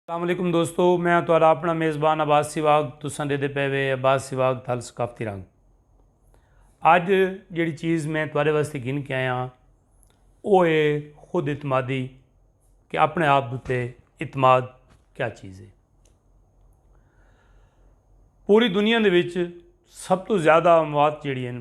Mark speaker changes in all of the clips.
Speaker 1: السلام علیکم دوستو میں ہاں تہاڈا اپنا میزبان عباس سیواگ تساں دے دے پے وے عباس سیواگ تھل ثقافتی رنگ اج جڑی چیز میں تہاڈے واسطے گھن کے آیا او اے خود اعتمادی کہ اپنے آپ تے اعتماد کیا چیز ہے پوری دنیا دے وچ سب تو زیادہ اموات جڑی ہیں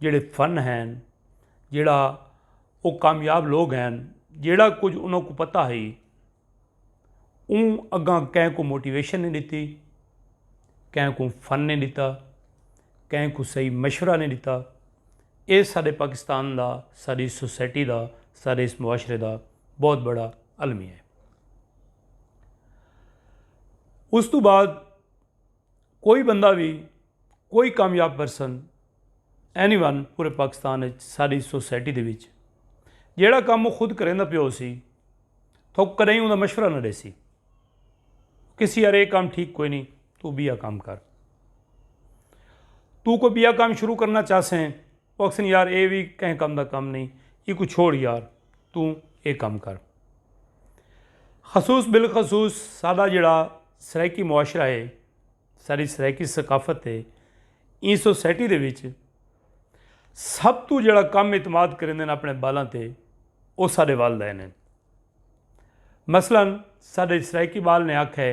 Speaker 1: جیڑھے فن ہین جیڑھا او کامیاب لوگ ہین جیڑھا کچھ انہاں کو پتہ ہئی اوں اگاں کہیں کو موٹیویشن نہیں ڈتی کہیں کو فن نہیں ڈتا کہیں کو صحیح مشورہ نہیں ڈتا اے سارے پاکستان دا ساری سوسائٹی دا سارے اس معاشرے دا بہت بڑا المیہ ہے اس تو بعد کوئی بندہ وی کوئی کامیاب پرسن اینی ون پورے پاکستان ساری سوسائٹی دے وچ جیڑا کام وہ خود کریں دا پیو سی تو کدیں اوندا مشورہ نہ دے سی کسی یار یہ کام ٹھیک کوئی نہیں تو بیا کام کر تو کوئی بیا کام شروع کرنا چاہ سیں او آکھسن یار اے وی کہیں کم دا کم نئیں ایکوں چھوڑ یار توں اے کم کر۔ خصوص بالخصوص ساڈا جیڑھا سرائیکی معاشرہ اے ساڈی سرائیکی ثقافت اے ایں سوسائٹی دے وچ سب توں جیڑھا کم اعتماد کریندن اپنے بالاں تے او ساڈے والدین ہن مثلا ساڈے سرائیکی بال نے آکھے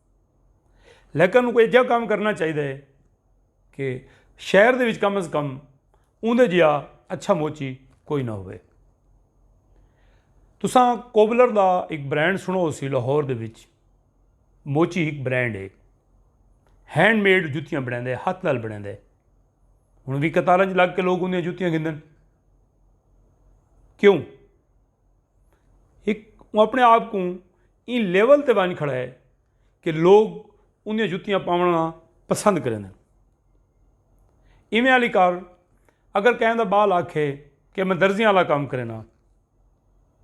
Speaker 1: لیکن انہوں کو ایجا کام کرنا چاہیے ہے کہ شہر دے وچ کم از کم اندر جیا اچھا موچی کوئی نہ ہوئے تساں کوبلر دا ایک برانڈ سنو سی لاہور دے وچ موچی ایک برانڈ ہے ہینڈ میڈ جتیاں بڑھیں دے ہاتھ نال بڑھیں دے انہوں دی قطارہ جی لگ کے لوگ انہیں جتیاں گھندن کیوں ہک او اپنے آپ کوں ایں لیول تے ونڄ کھڑا ہے کہ لوگ اوندیاں جتیاں پاوݨا پسند کریندن۔ ایویں آلی کار اگر کہیں دا ٻال آکھے کہ میں درزیاں آلا کم کرینداں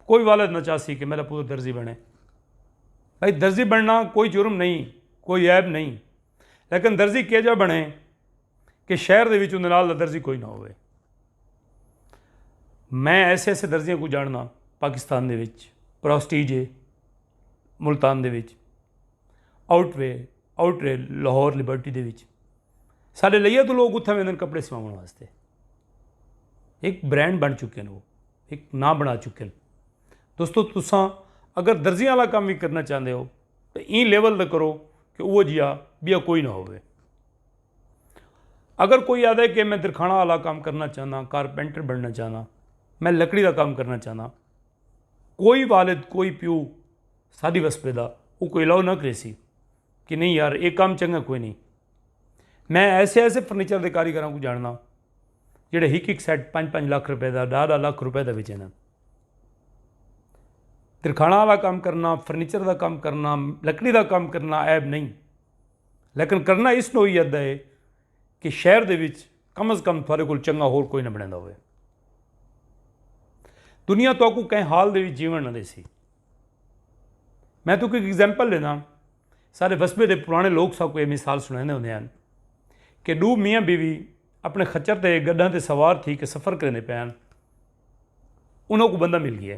Speaker 1: کوئی والد نہ چاہسی کہ میݙا پتر درزی بݨے۔ بھئی درزی بݨݨا کوئی جرم نئیں کوئی عیب نئیں لیکن درزی کیجھا بݨے۔ کہ شہر دے وچ اوندے نال دا درزی کوئی نہ ہووے۔ میں ایسے ایسے درزیاں کوں جانڑداں پاکستان دے وچ پرسٹیج ہے ملتان دے وچ آؤٹ وے آؤٹ رے لاہور لبرٹی دے وچ سارے لئیے تو لوگ اتھاں ویندن کپڑے سواون واسطے ایک برانڈ بن چکے ہیں وہ ایک ناں بنا چکے ہیں دوستو تساں اگر درزیاں والا کام بھی کرنا چاہندے ہو تو این لیول دا کرو کہ وہ جیا بیا کوئی نہ ہووے اگر کوئی آدھے کہ میں درخانہ والا کام کرنا چاہنا کارپینٹر بننا چاہنا میں لکڑی دا کام کرنا چاہنا کوئی والد کوئی پیو ساڈی وسپے دا وہ کوئی الاؤ نہ کرے سی کہ نہیں یار یہ کام چنگا کوئی نہیں میں ایسے ایسے فرنیچر دے کاریگراں کو جاننا جڑے ہک ہک سیٹ پانچ پانچ لاکھ روپے دا ڈھا ڈھا لاکھ روپے دا وچے نا درخانہ والا کام کرنا فرنیچر دا کام کرنا لکڑی دا کام کرنا عیب نہیں لیکن کرنا اس نوعیت دا ہے کہ شہر دے وچ کم از کم تھوڑے کول چنگا ہور کوئی نہ بنیندا ہووے۔ دنیا تہاکوں کہیں حال دے وچ جیون نہ دیسی۔ میں تہاکوں ایک ایگزامپل ݙینداں، ساݙے وسبے دے پراݨے لوک ساکوں ایہ مثال سݨیندے ہوندے ہن کہ ݙو میاں بیوی اپݨے خچر تے گݙاں تے سوار تھی کے سفر کریندے پئے ہن۔ انہاں کوں بندہ مل ڳیا۔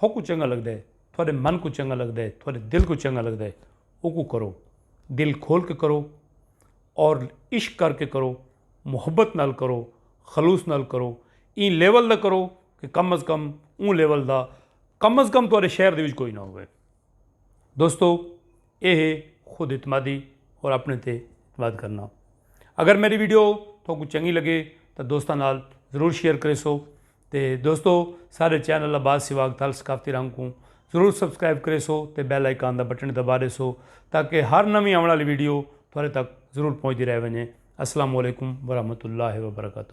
Speaker 1: تھوکوں چنگا لگدا ہے تھوڈے من کوں چنگا لگدا ہے تھوڈے دل کوں چنگا لگدا ہے اوکوں کرو دل کھول کے کرو اور عشق کر کے کرو محبت نال کرو خلوص نال کرو ایں لیول دا کرو کہ کم از کم اوں لیول دا کم از کم تھوڑے شہر دے وچ کوئی نہ ہوئے دوستو اے ہے خود اعتمادی اور اپنے تے اعتماد کرنا اگر میری ویڈیو تھوکوں چنگی لگے تو دوستاں نال ضرور شیئر کرے سو تے دوستو سارے چینل عباس سواگ تھل ثقافتی رنگ کوں ضرور سبسکرائب کرے سو تے بیل آئیکن دا بٹن دبا دے سو تاکہ ہر نویں آوݨ والی ویڈیو تھوڑے تک ضرور پہنچ دی رہ ونجے السلام علیکم ورحمۃ اللہ وبرکاتہ